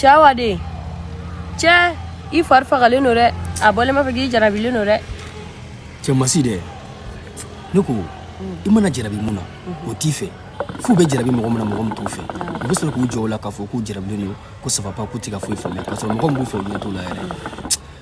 Cɛ Awa den cɛ i fari fagalen don dɛ a bɔlen b'a fɛ k'i jarabilen don dɛ cɛ masi dɛ ne ko i mana jarabi min na o t'i fɛ f'u bɛ jarabi mɔgɔ min na mɔgɔ min t'u fɛ u bɛ sɔrɔ k'u jɔ o la k'a fɔ k'u jarabilen don ko ça va pas k'u tɛ ka foyi faamuya k'a sɔrɔ mɔgɔ min b'u fɛ u ɲɛ t'o la yɛrɛ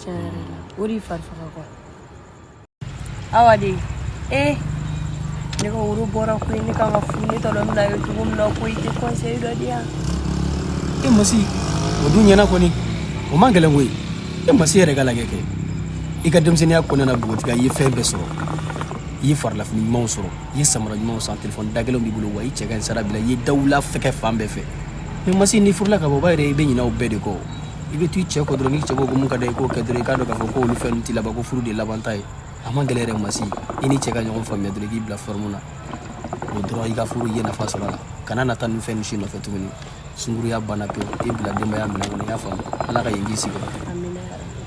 tiɲɛ yɛrɛ la o de y'i fari faga quoi Awa den ee ne ka woro bɔra koyi ne kan ka furu ne t'a dɔn n bɛna ye cogo min na koyi i tɛ conseil dɔ di yan e masi o dun ɲɛna kɔni o man gɛlɛn koyi e masi yɛrɛ ka lajɛ kɛ i ka denmisɛnninya kɔnɔna na bogotigiya i ye fɛn bɛɛ sɔrɔ i ye farilafini ɲumanw sɔrɔ i ye samara ɲumanw san telefɔni dagɛlɛnw b'i bolo wa i cɛ ka ɲi sara b'i la i ye dawula fɛkɛ fan bɛɛ fɛ mais masi n'i furula ka bɔ o b'a yɛrɛ i bɛ ɲinɛ o bɛɛ de kɔ i bɛ to i cɛ kɔ dɔrɔn n'i cɛ ko ko min ka d'a ye i k'o kɛ dɔrɔn i k'a dɔn k'a fɔ ko olu fɛn ninnu t'i laban ko furu de ye labanta ye a man gɛlɛn yɛrɛ masi i ni cɛ ka ɲɔgɔn faamuya dɔrɔn i k'i bila fɔrɔmu na o dɔrɔn i ka furu i ye nafa sɔrɔ a la kana na taa nin fɛn ninnu si nɔfɛ tuguni sunkuruya banna pewu i bila denbaya minɛn kɔnɔ i y'a faamu ala ka yen k'i sigiyɔrɔ